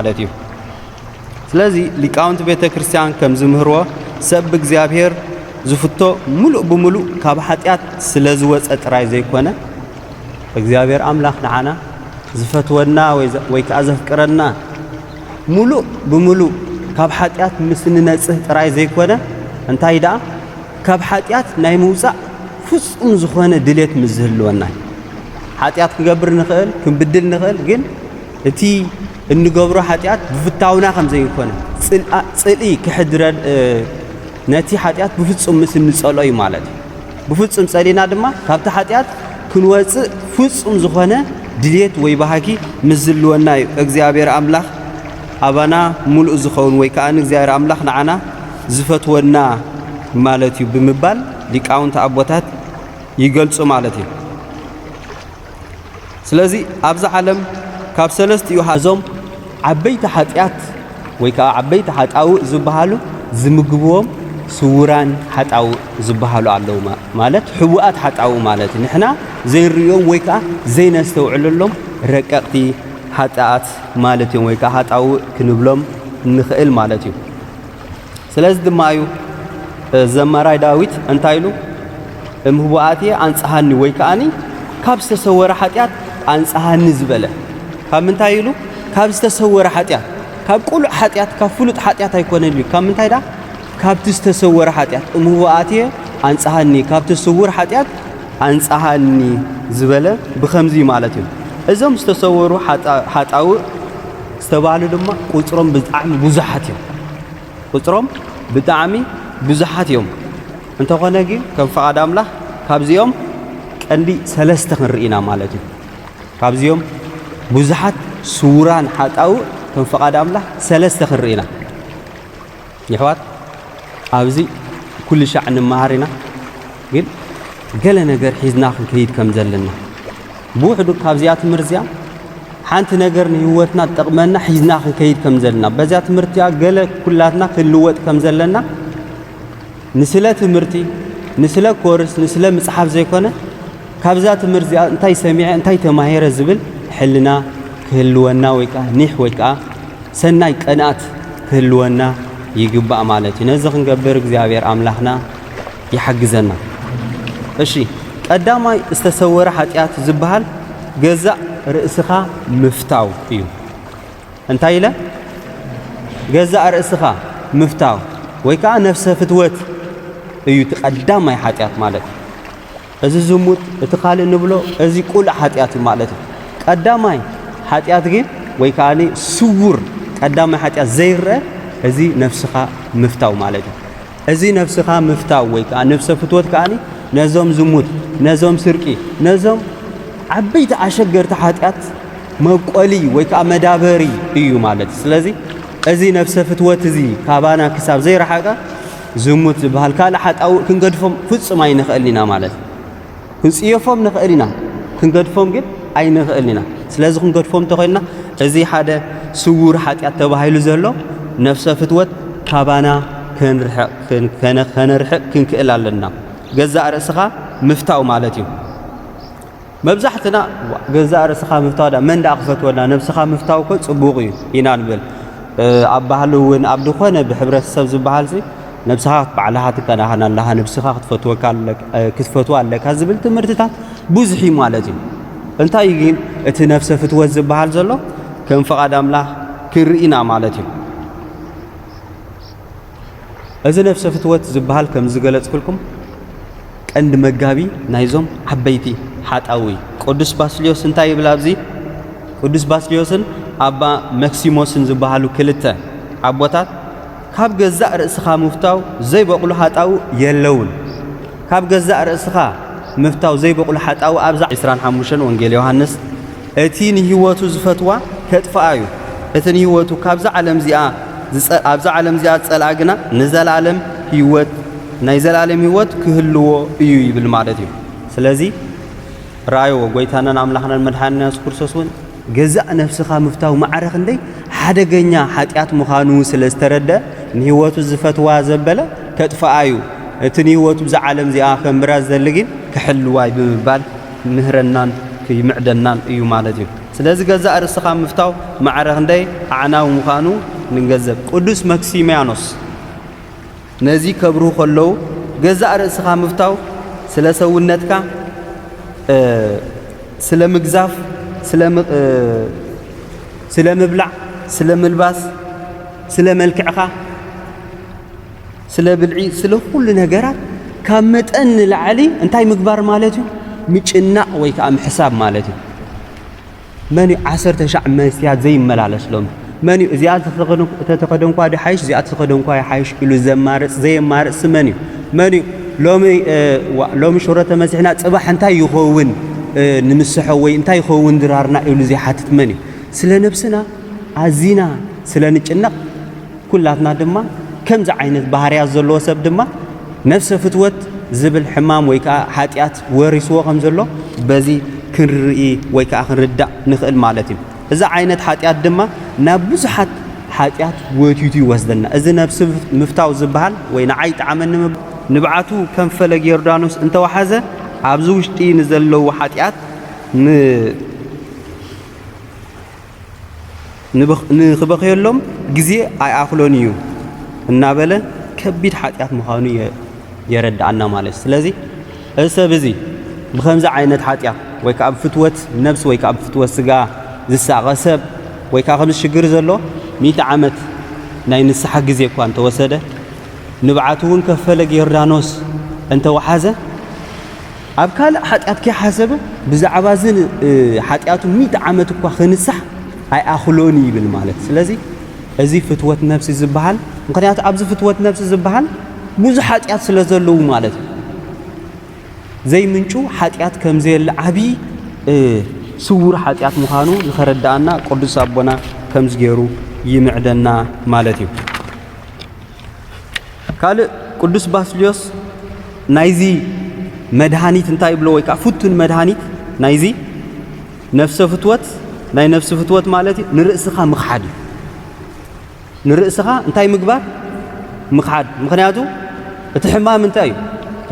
ማለት እዩ። ስለዚ ሊቃውንቲ ቤተ ክርስቲያን ከም ዝምህርዎ ሰብ ብእግዚኣብሔር ዝፍቶ ምሉእ ብምሉእ ካብ ሓጢኣት ስለ ዝወፀ ጥራይ ዘይኮነ እግዚኣብሔር ኣምላኽ ንዓና ዝፈትወና ወይ ከዓ ዘፍቅረና ምሉእ ብምሉእ ካብ ሓጢኣት ምስ ንነጽህ ጥራይ ዘይኮነ እንታይ ደኣ ካብ ሓጢኣት ናይ ምውፃእ ፍጹም ዝኾነ ድሌት ምስ ዝህልወና እዩ። ሓጢኣት ክንገብር ንኽእል ክንብድል ንኽእል፣ ግን እቲ እንገብሮ ሓጢኣት ብፍታውና ከም ዘይኮነ ጽልኢ ክሕድረ ነቲ ሓጢኣት ብፍጹም ምስ እንጸልኦ እዩ ማለት እዩ ብፍጹም ጸሊእና ድማ ካብቲ ሓጢኣት ክንወጽእ ፍጹም ዝኾነ ድሌት ወይ ባህጊ ምስ ዝልወና እዩ እግዚኣብሔር ኣምላኽ ኣባና ሙሉእ ዝኸውን ወይ ከዓ እግዚኣብሔር ኣምላኽ ንዓና ዝፈትወና ማለት እዩ ብምባል ሊቃውንቲ ኣቦታት ይገልጹ ማለት እዩ ስለዚ ኣብዛ ዓለም ካብ ሰለስቲኡ እዞም ዓበይቲ ሓጢኣት ወይ ከዓ ዓበይቲ ሓጣውእ ዝበሃሉ ዝምግብዎም ስውራን ሓጣውእ ዝበሃሉ ኣለዉ ማለት ሕቡኣት ሓጣውእ ማለት እዩ ንሕና ዘይንርእዮም ወይ ከዓ ዘይነስተውዕለሎም ረቀቕቲ ሓጣኣት ማለት እዮም ወይ ከዓ ሃጣውእ ክንብሎም ንኽእል ማለት እዩ ስለዚ ድማ እዩ ዘማራይ ዳዊት እንታይ ኢሉ እም ህቡኣትየ ኣንጽሃኒ ወይ ከኣኒ ካብ ዝተሰወረ ሓጢኣት ኣንጽሃኒ ዝበለ ካብ ምንታይ ኢሉ ካብ ዝተሰወረ ሓጢኣት ካብ ቁሉዕ ሓጢኣት ካብ ፍሉጥ ሓጢኣት ኣይኮነን እዩ ካብ ምንታይ ዳ ካብቲ ዝተሰወረ ሓጢኣት እም ህቡኣትየ ኣንጽሃኒ ካብቲ ስውር ሓጢኣት ኣንጽሃኒ ዝበለ ብኸምዚ ማለት እዩ እዞም ዝተሰወሩ ሓጣውእ ዝተባህሉ ድማ ቁፅሮም ብጣዕሚ ብዙሓት እዮም ቁፅሮም ብጣዕሚ ብዙሓት እዮም እንተኾነ ግን ከም ፍቓድ ኣምላኽ ካብዚኦም ቀንዲ ሰለስተ ክንርኢ ኢና ማለት እዩ ካብዚኦም ብዙሓት ስውራን ሓጣውእ ከም ፍቓድ ኣምላኽ ሰለስተ ክንርኢ ኢና የሕዋት ኣብዚ ኩልሻዕ ንመሃር ኢና ግን ገለ ነገር ሒዝና ክንከይድ ከም ዘለና ብውሕዱ ካብዚኣ ትምህርቲ እዚኣ ሓንቲ ነገር ንህይወትና ትጠቕመና ሒዝና ክንከይድ ከም ዘለና በዚኣ ትምህርቲኣ ገለ ኩላትና ክንልወጥ ከም ዘለና ንስለ ትምህርቲ፣ ንስለ ኮርስ፣ ንስለ ምጽሓፍ ዘይኮነ ካብዛ ትምህርት እዚኣ እንታይ ሰሚዐ እንታይ ተማሂረ ዝብል ሕልና ክህልወና ወይ ከኣ ኒሕ ወይ ከኣ ሰናይ ቅንኣት ክህልወና ይግባእ ማለት እዩ። ነዚ ክንገብር እግዚኣብሔር ኣምላኽና ይሓግዘና። እሺ ቀዳማይ ዝተሰወረ ሓጢኣት ዝበሃል ገዛእ ርእስኻ ምፍታው እዩ። እንታይ ኢለ? ገዛእ ርእስኻ ምፍታው ወይ ከኣ ነፍሰ ፍትወት እዩ እቲ ቀዳማይ ሓጢኣት ማለት እዩ። እዚ ዝሙት እቲ ካልእ ንብሎ እዚ ቁሉዕ ሓጢኣት እዩ ማለት እዩ። ቀዳማይ ሓጢኣት ግን ወይ ከኣ ስውር ቀዳማይ ሓጢኣት ዘይረአ እዚ ነፍስኻ ምፍታው ማለት እዩ። እዚ ነብስኻ ምፍታው ወይ ከኣ ነብሰ ፍትወት ከኣ ነዞም ዝሙት፣ ነዞም ስርቂ፣ ነዞም ዓበይቲ ኣሸገርቲ ሓጢኣት መብቆሊ ወይ ከኣ መዳበሪ እዩ ማለት እዩ። ስለዚ እዚ ነብሰ ፍትወት እዚ ካባና ክሳብ ዘይረሓቀ ዝሙት ዝበሃል ካልእ ሓጣውእ ክንገድፎም ፍጹም ኣይንኽእልን ኢና ማለት እዩ። ክንጽየፎም ንኽእል ኢና፣ ክንገድፎም ግን ኣይንኽእልን ኢና። ስለዚ ክንገድፎም እንተኾይንና እዚ ሓደ ስውር ሓጢኣት ተባሂሉ ዘሎ ነፍሰ ፍትወት ካባና ከነርሕቕ ክንክእል ኣለና። ገዛእ ርእስኻ ምፍታው ማለት እዩ። መብዛሕትና ገዛእ ርእስኻ ምፍታው ዳ መን ደኣ ክፈትወና ነብስኻ ምፍታው እኮ ጽቡቕ እዩ ኢና ንብል። ኣብ ባህሊ እውን ኣብ ዝኾነ ብሕብረተሰብ ዝበሃልሲ ነብስኻ ባዕልኻ ትከናኸን ኣለኻ፣ ነብስኻ ክትፈትዋ ኣለካ ዝብል ትምህርትታት ብዙሕ እዩ ማለት እዩ። እንታይ እዩ ግን እቲ ነፍሰ ፍትወት ዝበሃል ዘሎ ከም ፍቓድ ኣምላኽ ክንርኢና ማለት እዩ። እዚ ነፍሰ ፍትወት ዝበሃል ከም ዝገለጽኩልኩም ቀንዲ መጋቢ ናይዞም ዓበይቲ ሓጣዊ ቅዱስ ባስልዮስ እንታይ ይብል ኣብዚ ቅዱስ ባስልዮስን ኣባ መክሲሞስን ዝበሃሉ ክልተ ኣቦታት ካብ ገዛእ ርእስኻ ምፍታው ዘይበቑሉ ሃጣው የለዉን። ካብ ገዛእ ርእስኻ ምፍታው ዘይበቑሉ ሓጣው ኣብዛ ዕስራን ሓሙሽተን ወንጌል ዮሃንስ እቲ ንህይወቱ ዝፈትዋ ከጥፍኣ እዩ፣ እቲ ንህይወቱ ካብዛ ዓለም እዚኣ ዝጸ ኣብዛ ዓለም እዚኣ ዝጸልኣ ግና ንዘለኣለም ህይወት ናይ ዘለኣለም ህይወት ክህልዎ እዩ ይብል ማለት እዩ። ስለዚ ረኣይዎ ጎይታናን ኣምላኽናን መድሓኒና የሱስ ክርስቶስ እውን ገዛእ ነፍስኻ ምፍታው ማዕረ ክንደይ ሓደገኛ ሓጢኣት ምዃኑ ስለ ዝተረድኣ፣ ንህይወቱ ዚፈትዋ ዘበለ ኬጥፍኣ እዩ፣ እቲ ንህይወቱ ብዛ ዓለም እዚኣ ኼንብራ ዚደሊ ግን ኪሕልዋ እዩ ብምባል ኪምህረናን ኪምዕደናን እዩ ማለት እዩ። ስለዚ፣ ገዛእ ርእስኻ ምፍታው ማዕረ ክንደይ ኣዕናዊ ምዃኑ ንገንዘብ። ቅዱስ መክሲምያኖስ። ነዚ ከብርሁ ከለዉ ገዛእ ርእስኻ ምፍታው ስለ ሰውነትካ ስለ ምግዛፍ ስለ ምብላዕ ስለ ምልባስ ስለ መልክዕኻ ስለ ብልዒ ስለ ኩሉ ነገራት ካብ መጠን ንላዕሊ እንታይ ምግባር ማለት እዩ ምጭናቕ ወይ ከዓ ምሕሳብ ማለት እዩ መን እዩ ዓሰርተ ሻዕ መስትያት ዘይመላለስ ሎሚ? መን እዩ እዚኣ ተተኸደንኳ ድሓይሽ እዚኣ ተተኸደንኳ ይሓይሽ ኢሉ ዘማርፅ ዘየማርፅሲ መን እዩ? መን እዩ ሎሚ ዋእ ሎሚ ሽሮ ተመሲሕና ፅባሕ እንታይ ይኸውን ንምስሖ ወይ እንታይ ይኸውን ድራርና ኢሉ ዘይሓትት መን እዩ? ስለ ነብስና ኣዚና ስለ ንጭነቕ ኩላትና ድማ ከምዚ ዓይነት ባህርያት ዘለዎ ሰብ ድማ ነብሰ ፍትወት ዝብል ሕማም ወይ ከዓ ሓጢኣት ወሪስዎ ከም ዘሎ በዚ ክንርኢ ወይ ከኣ ክንርዳእ ንኽእል ማለት እዩ። እዚ ዓይነት ሓጢኣት ድማ ናብ ብዙሓት ሓጢኣት ጎቲቱ ይወስደና። እዚ ነብሲ ምፍታው ዝበሃል ወይ ንዓይ ይጥዓመኒ ምባል፣ ንብዓቱ ከም ፈለግ ዮርዳኖስ እንተ ወሓዘ ኣብዚ ውሽጢ ንዘለዉ ሓጢኣት ን። ንኽበኽየሎም ግዜ ኣይኣኽሎን እዩ እናበለ ከቢድ ሓጢኣት ምዃኑ የረድኣና ማለት እዩ ስለዚ እዚ ሰብ እዚ ብኸምዚ ዓይነት ሓጢኣት ወይ ከዓ ብፍትወት ነብሲ ወይ ከዓ ብፍትወት ስጋ ዝሳቐ ሰብ ወይ ከዓ ከምዚ ሽግር ዘሎ ሚእቲ ዓመት ናይ ንስሓ ግዜ እኳ እንተወሰደ ንብዓቱ እውን ከፈለግ ዮርዳኖስ እንተወሓዘ ኣብ ካልእ ሓጢኣት ከይሓሰበ ብዛዕባ እዚ ሓጢኣቱ ሚእቲ ዓመት እኳ ክንሳሕ ኣይኣኽሎን እዩ ይብል ማለት ስለዚ እዚ ፍትወት ነብሲ ዝበሃል ምክንያቱ ኣብዚ ፍትወት ነብሲ ዝበሃል ብዙሕ ሓጢኣት ስለ ዘለዉ ማለት እዩ ዘይምንጩ ሓጢኣት ከም ዘየለ ዓብዪ ስውር ሓጢኣት ምዃኑ ንኸረድኣና ቅዱስ ኣቦና ከምዚ ገይሩ ይምዕደና ማለት እዩ ካልእ ቅዱስ ባስልዮስ ናይዚ መድሃኒት እንታይ ይብሎ ወይ ከዓ ፍቱን መድሃኒት ናይዚ ነፍሰ ፍትወት ናይ ነፍሲ ፍትወት ማለት እዩ ንርእስኻ ምኽሓድ እዩ ንርእስኻ እንታይ ምግባር ምኽሓድ ምክንያቱ እቲ ሕማም እንታይ እዩ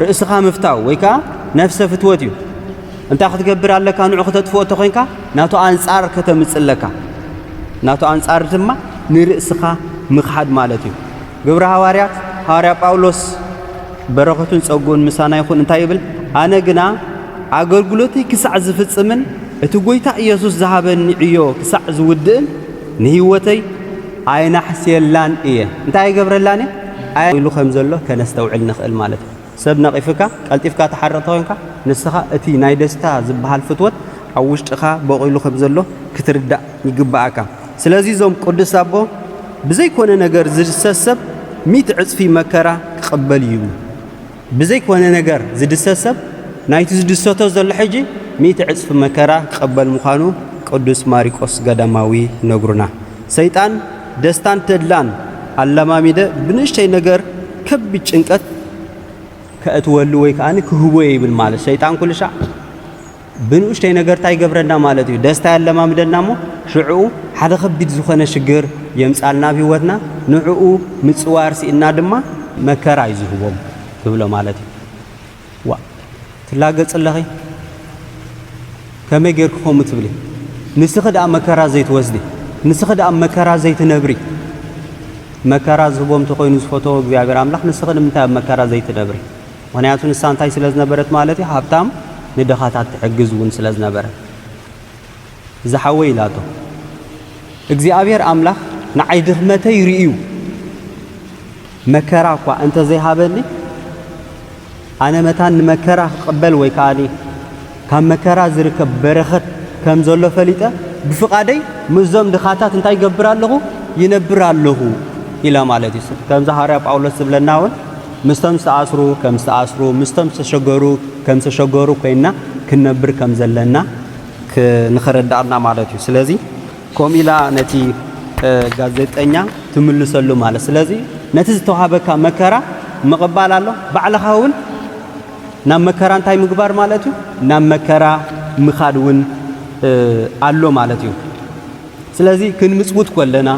ርእስኻ ምፍታው ወይ ከዓ ነፍሰ ፍትወት እዩ እንታይ ክትገብር ኣለካ? ንዑ ክተጥፍኦ እንተኾይንካ ናቱ ኣንጻር ከተምጽ ኣለካ። ናቱ ኣንጻር ድማ ንርእስኻ ምኽሓድ ማለት እዩ። ግብረ ሃዋርያት ሃዋርያ ጳውሎስ በረኸቱን ጸጉኡን ምሳና ይኹን እንታይ ይብል? ኣነ ግና ኣገልግሎተይ ክሳዕ ዝፍጽምን እቲ ጐይታ ኢየሱስ ዝሃበኒ ዕዮ ክሳዕ ዝውድእን ንህይወተይ ኣይናሕስየላን እየ። እንታይ ኣይገብረላን እየ? ኢሉ ከም ዘሎ ከነስተውዕል ንኽእል ማለት እዩ። ሰብ ነቒፍካ ቀልጢፍካ ትሓርቕ ተኾይንካ፣ ንስኻ እቲ ናይ ደስታ ዝበሃል ፍትወት ኣብ ውሽጥኻ በቚሉ ከም ዘሎ ክትርዳእ ይግበኣካ። ስለዚ እዞም ቅዱስ ኣቦ ብዘይኮነ ነገር ዝድሰት ሰብ ሚእቲ ዕጽፊ መከራ ክቕበል እዩ ይብሉ። ብዘይኮነ ነገር ዝድሰት ሰብ ናይቲ ዝድሰቶ ዘሎ ሕጂ ሚእቲ ዕጽፊ መከራ ክቕበል ምዃኑ ቅዱስ ማሪቆስ ገዳማዊ ይነግሩና። ሰይጣን። ደስታን ተድላን ኣለማሚደ ብንእሽተይ ነገር ከቢድ ጭንቀት ከእትወሉ ወይ ከኣ ክህቦ ይብል ማለት ሰይጣን ኩልሻዕ ብንኡሽተይ ነገር እንታይ ይገብረና ማለት እዩ ደስታ ያለማምደና እሞ ሽዕኡ ሓደ ከቢድ ዝኾነ ሽግር የምጻልና ኣብ ህይወትና ንዕኡ ምጽዋር ስኢና ድማ መከራ እዩ ዝህቦም ትብሎ ማለት እዩ ዋእ ትላገጺ ኣለኺ ከመይ ጌርኪ ከምኡ ትብሊ ንስኺ ደኣ መከራ ዘይትወስዲ ንስኺ ደኣ መከራ ዘይትነብሪ መከራ ዝህቦም ተኾይኑ ዝፈተዎ እግዚኣብሔር ኣምላኽ ንስኺ ንምንታይ ኣብ መከራ ዘይትነብሪ ምክንያቱ ንሳ እንታይ ስለ ዝነበረት ማለት እዩ ሃብታም ንድኻታት ትሕግዝ እውን ስለ ዝነበረት ዝሓወይ ኢላቶ እግዚኣብሔር ኣምላኽ ንዓይ ድኽመተይ ርእዩ መከራ እኳ እንተዘይሃበኒ ኣነ መታን ንመከራ ክቕበል ወይ ከዓኒ ካብ መከራ ዝርከብ በረኸት ከም ዘሎ ፈሊጠ ብፍቓደይ ምስዞም ድኻታት እንታይ ይገብር ኣለኹ ይነብር ኣለኹ ኢለ ማለት እዩ ከምዚ ሃዋርያ ጳውሎስ ዝብለና እውን ምስቶም ዝተኣስሩ ከም ዝተኣስሩ ምስቶም ዝተሸገሩ ከም ዝተሸገሩ ኮይንና ክንነብር ከም ዘለና ንኸረዳኣና ማለት እዩ ስለዚ ከምኡ ኢላ ነቲ ጋዜጠኛ ትምልሰሉ ማለት ስለዚ ነቲ ዝተዋሃበካ መከራ ምቕባል ኣሎ ባዕልኻ እውን ናብ መከራ እንታይ ምግባር ማለት እዩ ናብ መከራ ምኻድ እውን ኣሎ ማለት እዩ ስለዚ ክንምጽውት ኮለና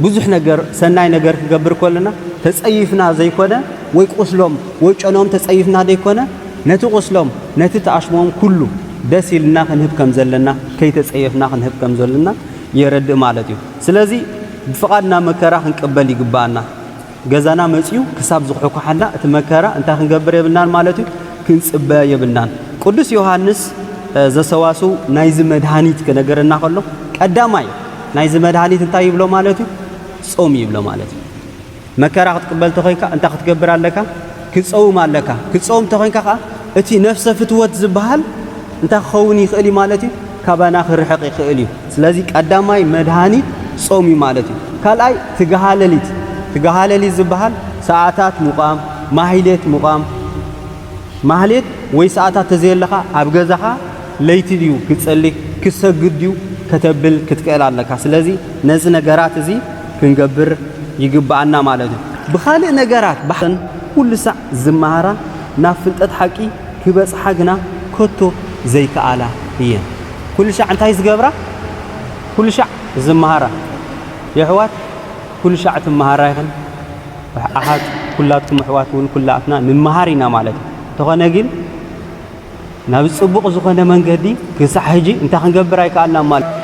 ብዙሕ ነገር ሰናይ ነገር ክገብር ኮለና ተጸይፍና ዘይኮነ ወይ ቁስሎም ወይ ጨንኦም ተጸይፍና ደይኮነ ነቲ ቁስሎም ነቲ ተኣሽሞም ኩሉ ደስ ኢልና ክንህብ ከም ዘለና ከይተጸየፍና ክንህብ ከም ዘሎና የረድእ ማለት እዩ። ስለዚ ብፍቓድና መከራ ክንቅበል ይግብኣና። ገዛና መጺኡ ክሳብ ዝኹሕኳሓና እቲ መከራ እንታይ ክንገብር የብልናን ማለት እዩ ክንጽበ የብልናን። ቅዱስ ዮሃንስ ዘሰዋስው ናይዚ መድሃኒት ክነገረና ከሎ ቀዳማይ ናይዚ መድሃኒት እንታይ ይብሎ ማለት እዩ ጾም ይብሎ ማለት እዩ። መከራ ክትቅበል ተኾይንካ እንታይ ክትገብር ኣለካ? ክጸውም ኣለካ። ክጸውም ተኾይንካ ከኣ እቲ ነፍሰ ፍትወት ዝበሃል እንታይ ክኸውን ይኽእል እዩ ማለት እዩ? ካባና ክርሕቕ ይኽእል እዩ ስለዚ ቀዳማይ መድሃኒት ጾም እዩ ማለት እዩ ካልኣይ ትግሃ ለሊት ትግሃ ለሊት ዝብሃል ሰዓታት ምቛም ማህሌት ምቛም ማህሌት ወይ ሰዓታት ተዘየለካ ኣብ ገዛኻ ለይቲ ድዩ ክትጸሊ ክትሰግድ ድዩ ከተብል ክትክእል ኣለካ ስለዚ ነዚ ነገራት እዚ ክንገብር ይግብኣና ማለት እዩ ብኻልእ ነገራት ኩሉ ሳዕ ዝመሃራ ናብ ፍልጠት ሓቂ ክበጽሓ ግና ከቶ ዘይከኣላ እየን። ኩልሻዕ እንታይ ዝገብራ ኩልሻዕ ዝመሃራ የሕዋት ኩልሻዕ ትመሃራ ኢኽን ኣሓት ኩላትኩም ኣሕዋት ውን ኩላትና ንመሃር ኢና ማለት እዩ። እንተኾነ ግን ናብ ጽቡቕ ዝኾነ መንገዲ ክሳዕ ሕጂ እንታይ ክንገብር ኣይከኣልናን ማለት እዩ።